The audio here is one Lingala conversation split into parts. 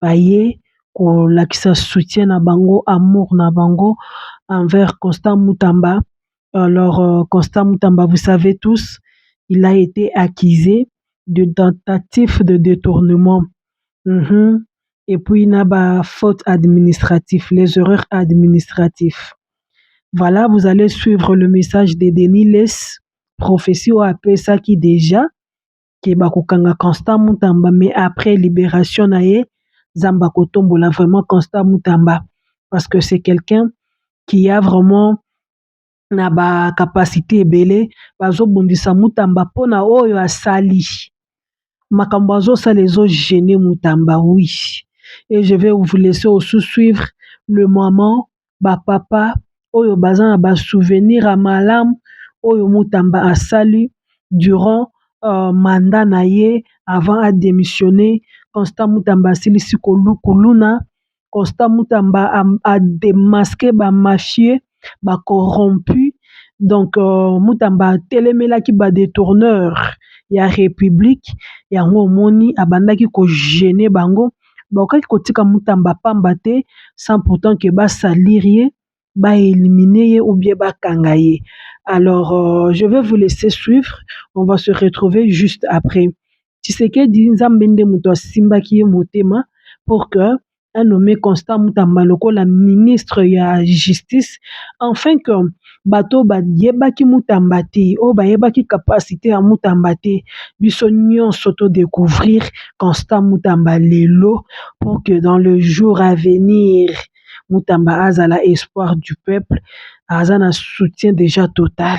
baye kolakisa soutien na bango amour na bango enver constant mutamba alors constant mutamba vous savez tous il a ete accuse de tentatif de detournement et puis na ba faute administratif les heures administratif voila vous allez suivre le message de denis les prophetie oyo apesaki dejà que bakokanga constant mutamba mais après liberation na ye nzambe akotombola vraiment constant mutamba parce que c'est quelqu'un qui a vraiment na ba capacite ebele bazobundisa mutamba mpona oyo asali makambo azosala ezo gene mutamba wi e je vais vous laisser au sous suivre le moment ba papa oyo baza na ba souvenir ya malamu oyo Mutamba asali durant mandat na ye avant a demissionner constant Mutamba asilisi kuluna constant Mutamba a demasque ba mafieux ba corrompu donc Mutamba atelemelaki ba detourneur ya republique yango omoni abandaki ko gener bango. ba kokaki ko tika Mutamba pamba te sans pourtant que ba salir ye, ba eliminer ye ou bien ba kanga ye. Alors je vais vous laisser suivre, on va se retrouver juste après. Tshisekedi Nzambe nde mutu a simbaki ye motema pour que a nommer Constant Mutamba lokola ministre ya justice afin que. bato oyo bayebaki Mutamba te oyo bayebaki capacite ya Mutamba te biso nionso to decouvrir constant Mutamba lelo pour que dans le jour à venir Mutamba azala espoir du peuple aza na soutient dejà total.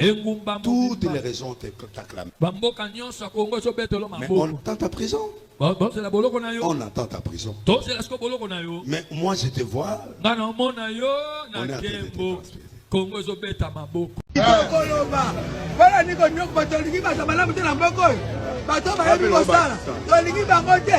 engumba toutes les raisons t'acclament. Mais on tend ta prison. On attend ta prison. Mais moi je te vois. On est en train de kongo ezobeta maboko tokoloba mpona niko nyoko bato olingi bato malamu te na mboko oyo bato bayebi kosala tolingi bango te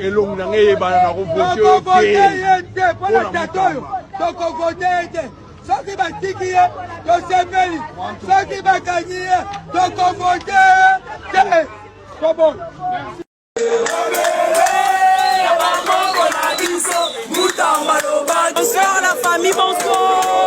elongi na ngai eyebana na kovote ye te mpo na tata oyo tokovote ye te soki batiki ye tosepeli soki bakangi ye tokovote te kobo Bonsoir la famille, bonsoir.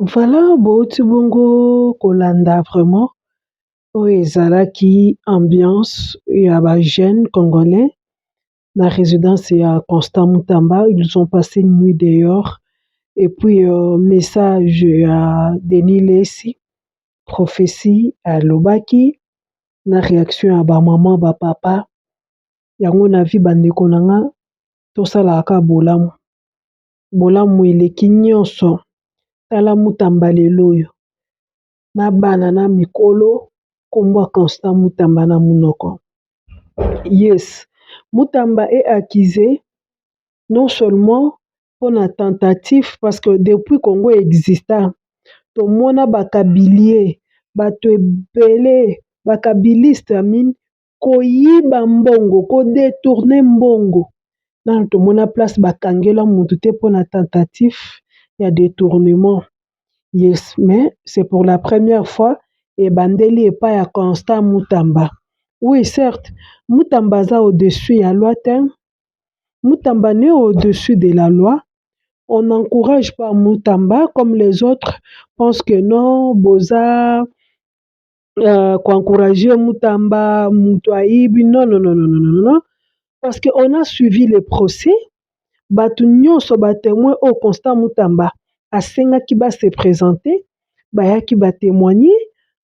Voilà, bouti bongo kolanda vraiment oyo ezalaki ambiance ya ba jeunes congolais na residence ya constant mutamba ils ont passe une nuit dehors et puis message ya Denis lessi prophetie alobaki na reaction ya ba maman ba papa yango na vie ba ndeko na nga tosalaka kaka bolamu, bolamu eleki nionso tala mutamba lelo oyo. na bana na mikolo kombo ya constant mutamba na munoko yes mutamba e accuse non seulement pona tentative parce que depuis congo exista tomona ba kabilie batu ebele ba kabiliste koyiba mbongo ko detourne mbongo nanu tomona place ba kangela mutu te pona tentatif ya detournement yes mais c'est pour la première fois ebandeli epai ya constant mutamba oui certe mutamba aza au dessus ya loi te mutamba n'est au dessus de la loi on encourage pas mutamba comme les autres pense que non boza euh, ko encourager Mutamba, mutu ayibi. Non, non, non, non, non, non, non. Parce que on a suivi le procès. Bato nyonso ba témoins oyo Constant Mutamba asengaki ba se présenter, bayaki ba témoigner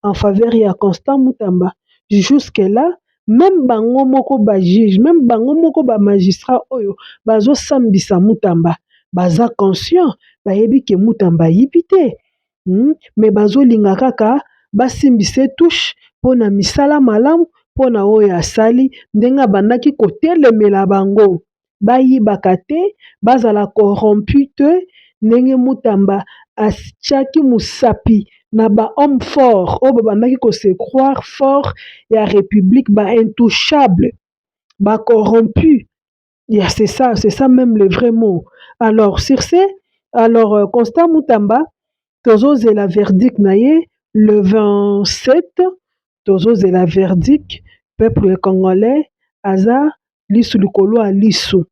en faveur ya Constant Mutamba. Jusque là, même bango moko ba juge, même bango moko ba magistrat oyo bazosambisa Mutamba, baza conscient, bayebi ke Mutamba ayibi te. mais bazolinga kaka basimbisa touche mpona misala malamu mpona oyo asali ndenge abandaki kotelemela bango bayibaka te bazala corrompu te ndenge mutamba atiaki mosapi na ba homme fort oyo babandaki ko se croire fort ya republique ba intouchable ba corrompu. ya c'est ça c'est ça meme le vrai mot alors sur ce alors euh, constant mutamba tozozela verdict na ye le 27 tozozela verdict peuple congolais aza lisu likolo ya lisu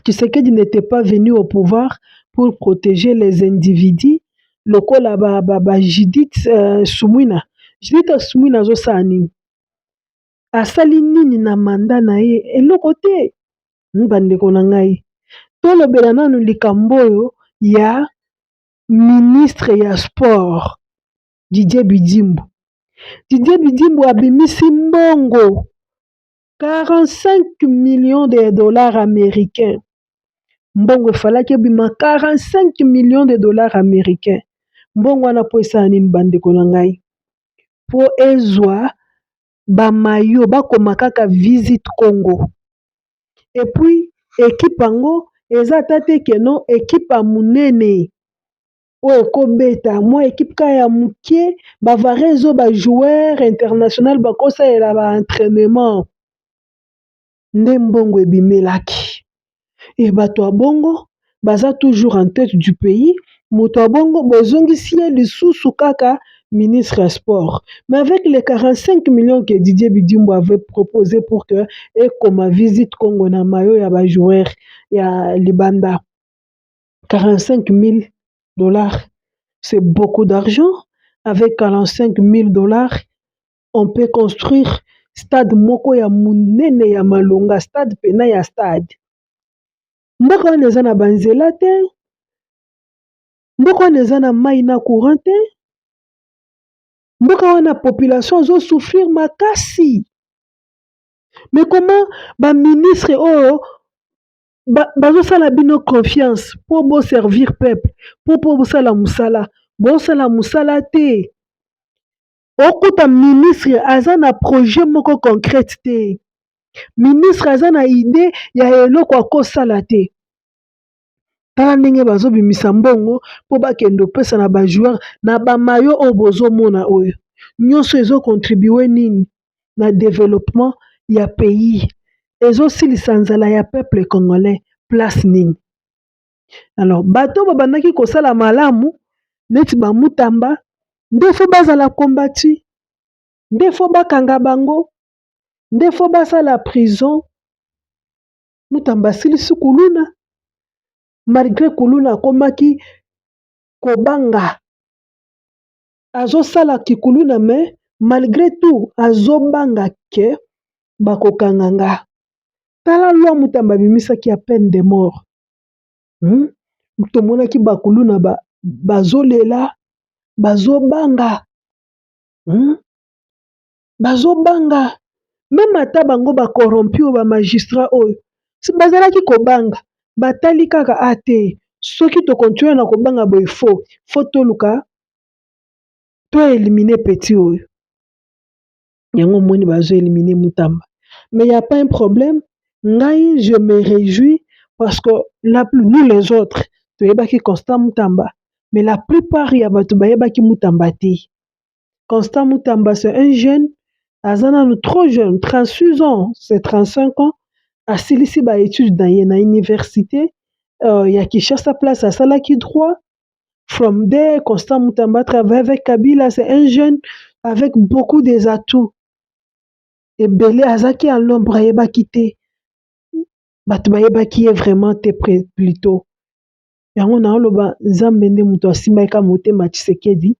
tshisekedi n'était pas venu au pouvoir pour protéger les individus lokola ba, ba, ba judith euh, sumwina judith sumwina azosala nini asali nini na manda na ye? Eloko te. Ba ndeko na ngai tolobela nanu likambo oyo ya ministre ya sport Didier Budimbu. Didier Budimbu abimisi mbongo 45 millions de dollars americains, mbongo efalaki ebima 45 millions de dollars americains. Mbongo wana mpo esala nini ba ndeko na ngai? po ezua ba maillots bakoma kaka visit Congo et puis equipe yango eza ata te que non equipe ya munene oyo eko beta mua equipe kaka ya mukie ba varieuse oyo ba joueurs international bako salela ba entrainements. nde mbongo ebimelaki et batu ya bongo baza toujours en tete du pays mutu ya bongo bozongisi ye lisusu kaka ministre ya sport mais avec les 45 millions que Didier Bidimbu avait propose pour que ekoma visite Congo na mayo ya ba joueur ya libanda 45 mil dollars c'est beaucoup d'argent avec 45 mil dollars on peut construire stade moko ya monene ya malonga stade pena ya stade mboka wana eza na banzela te mboka wana eza na mai na courant te mboka wana population ezo souffrir makasi mais koma ba ministre oyo bazosala bino confiance po bo servir peuple po po bosala mosala bosala mosala te. Okuta ministre aza na projet moko concrète te. Ministre aza na idee ya eloko akosala te. Tala ndenge bazobimisa mbongo mpo bakende opesa na ba joueurs na ba mayo oyo bozomona oyo nyonso ezo contribue nini na developpement ya pays ezosilisa nzala ya peuple congolais place nini? alors bato babandaki kosala malamu neti bamutamba nde fo bazala kombati nde fo bakanga bango nde fo basala prison mutamba asilisi kuluna malgre kuluna akomaki kobanga azosala kikuluna me malgre tout azobanga ke bakokanga nga tala lwa mutamba abimisaki ya peine de mort tomonaki ba kuluna bazo lela bazo banga bazo banga meme ata bango ba corrompu ba magistrat oyo bazalaki kobanga batali kaka a te soki to continue na kobanga boye faux faut toluka to eliminer petit oyo. yango omoni bazo elimine mutamba mais ya pas un problème ngai je me rejouis parce que la plus nous les autres toyebaki constant mutamba mais la plupart ya bato bayebaki mutamba te constant mutamba c'est un jeune aza nanu trop jeune 36 ans c'est 35 ans asilisi ba études na ye na université euh, ya kinshasa place asalaki droit from there constant mutamba a travaille avec kabila c'est un jeune avec beaucoup des atouts ebele azaki ya lombre ayebaki te bato bayebaki ye vraiment te pre plutot yango na oloba nzambe nde moto asimbaki ka motema tshisekedi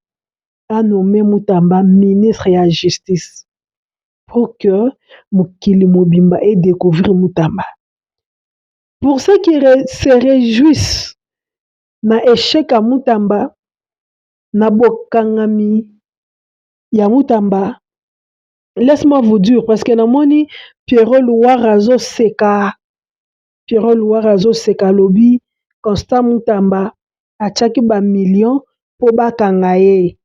anome mutamba ministre ya justice pour que mokili mobimba e découvrir mutamba pour ce qui se réjouissent na echec ya Mutamba na bokangami ya Mutamba laisse moi vous dire parce que namoni Pierrot Luwara azoseka Pierrot Luwara azoseka alobi constant Mutamba atiaki ba millions po bakanga ye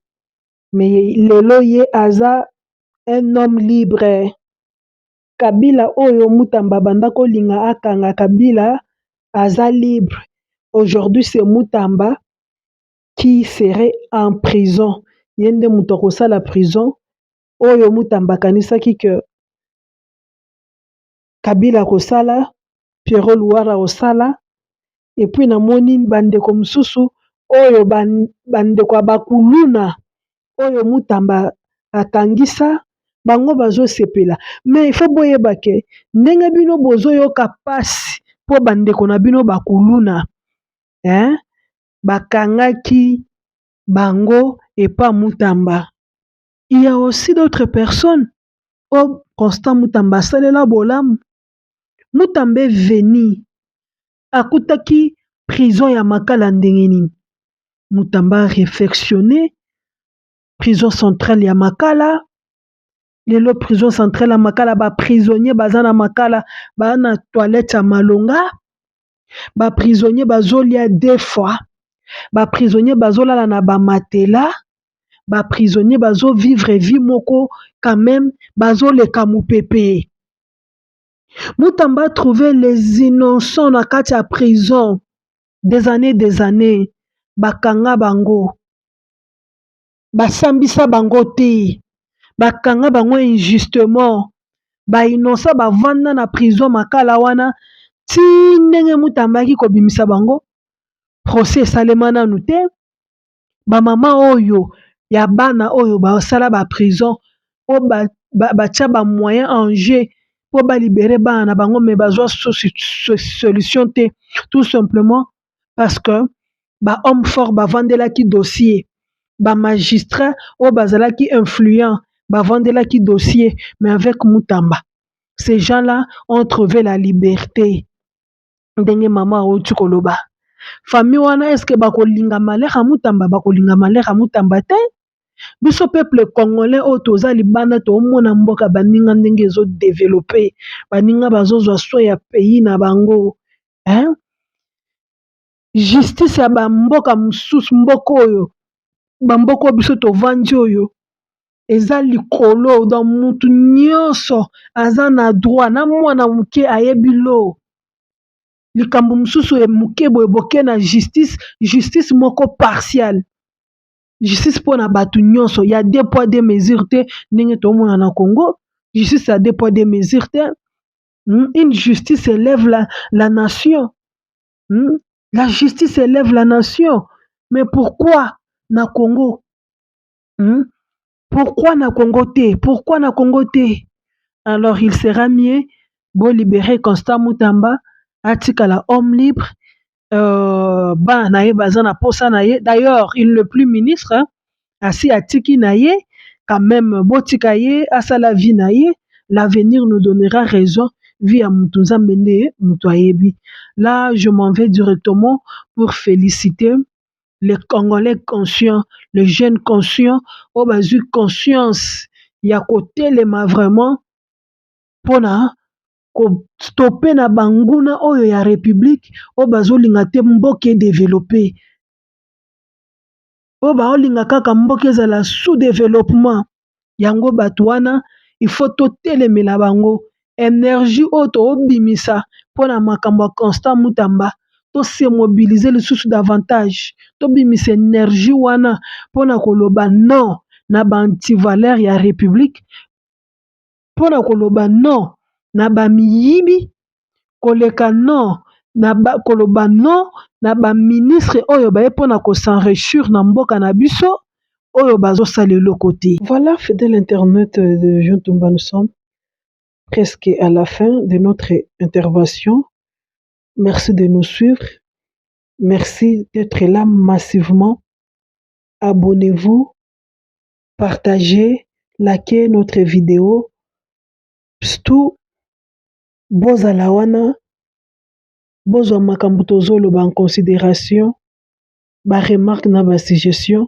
mais lelo ye aza un homme libre. Kabila oyo mutamba abanda kolinga akanga kabila aza libre aujourd'hui c'est mutamba qui serait en prison ye nde mutu akosala prison oyo mutamba akanisaki que kabila akosala Pierrot luwara akosala epuis namoni ba ndeko mususu oyo ba ndeko ya ba kuluna oyo Mutamba akangisa bango bazo sepela mais il faut boyeba que ndenge bino bozo yoka pasi po ba ndeko na bino ba kuluna hein bakangaki bango epa Mutamba il ya aussi d'autres personnes oyo constant Mutamba asalela bolamu. Mutambe veni akutaki prison ya makala ndenge nini? Mutamba a refectione prison centrale ya makala lelo prison centrale ya makala ba prisonnier baza na makala ba na toilette ya malonga ba prisonnier bazolia deux fois ba prisonnier bazolala na ba matela ba prisonnier bazo vivre vie moko quand meme bazoleka mupepe. Mutamba a trouver les innocents na kati ya prison des annees des annees ba kanga bango ba sambisa bango te ba kanga bango injustement ba innocents ba vanda na prison makala wana ti ndenge Mutamba ayaki ko bimisa bango procès e salema nanu te ba mama oyo ya bana oyo basala ba prison po batia ba moyen en jeu po ba libere bana na bango me bazwa solution te tout simplement parce que ba homme fort bafandelaki dossier ba magistrat oyo bazalaki influent bafandelaki dossier mais avec Mutamba ce gens là ont trouve la liberte. ndenge mama awuti koloba famille wana eske bakolinga Malheur ya Mutamba bakolinga Malheur ya Mutamba te biso peuple congolais oyo toza libanda tomona mboka baninga ndenge ezo developpe baninga bazozwa soin ya pays na bango hein justice ya ba mboka mosusu mboka oyo ba mboka oyo biso tovandi oyo eza likolo donc mutu nionso aza na droit na mwana moke ayebi lor likambo mosusu ya moke boye boke na justice justice moko partiale justice mpona bato nionso ya de poids de mesure te ndenge tomona na congo justice ya de poids de mesure te une justice elève la nation. Hum la justice elève la nation mais pourquoi na Congo hum pourquoi na Congo te pourquoi na Congo te alors il sera mieux bo libérer Constant Mutamba atikala homme libre euh, bana na ye baza na posa na ye d'ailleurs il ne plus ministre hein? asi atiki na ye quand meme botika ye asala vie na ye l'avenir nous donnera raison vie ya mutu nzambe nde mutu ayebi là je m'en vais directement pour feliciter les congolais conscients les jeunes conscients oyo bazwi conscience ya kotelema vraiment pona ko stopper na ba nguna oyo ya republique oyo bazolinga te mboka e developper. oyo baolinga kaka mboka ezala sous developpement yango bato wana il faut totelemela bango energie oyo tobimisa mpona makambo ya constant mutamba to se mobilise lisusu davantage tobimisa energie wana mpona koloba non na ba antivaleur ya republique pona koloba non na ba miyibi koleka non na koloba non na ba ministre oyo baye pona ko s'enrichur na mboka na biso oyo bazo sala eloko te. Voila fidele internet de Jean Tumba nous sommes presque à la fin de notre intervention merci de nous suivre merci d'etre là massivement abonnez-vous. partager lake notre video pstu bozala wana bozwa makambo tozoloba en consideration ba remarque na ba sugestion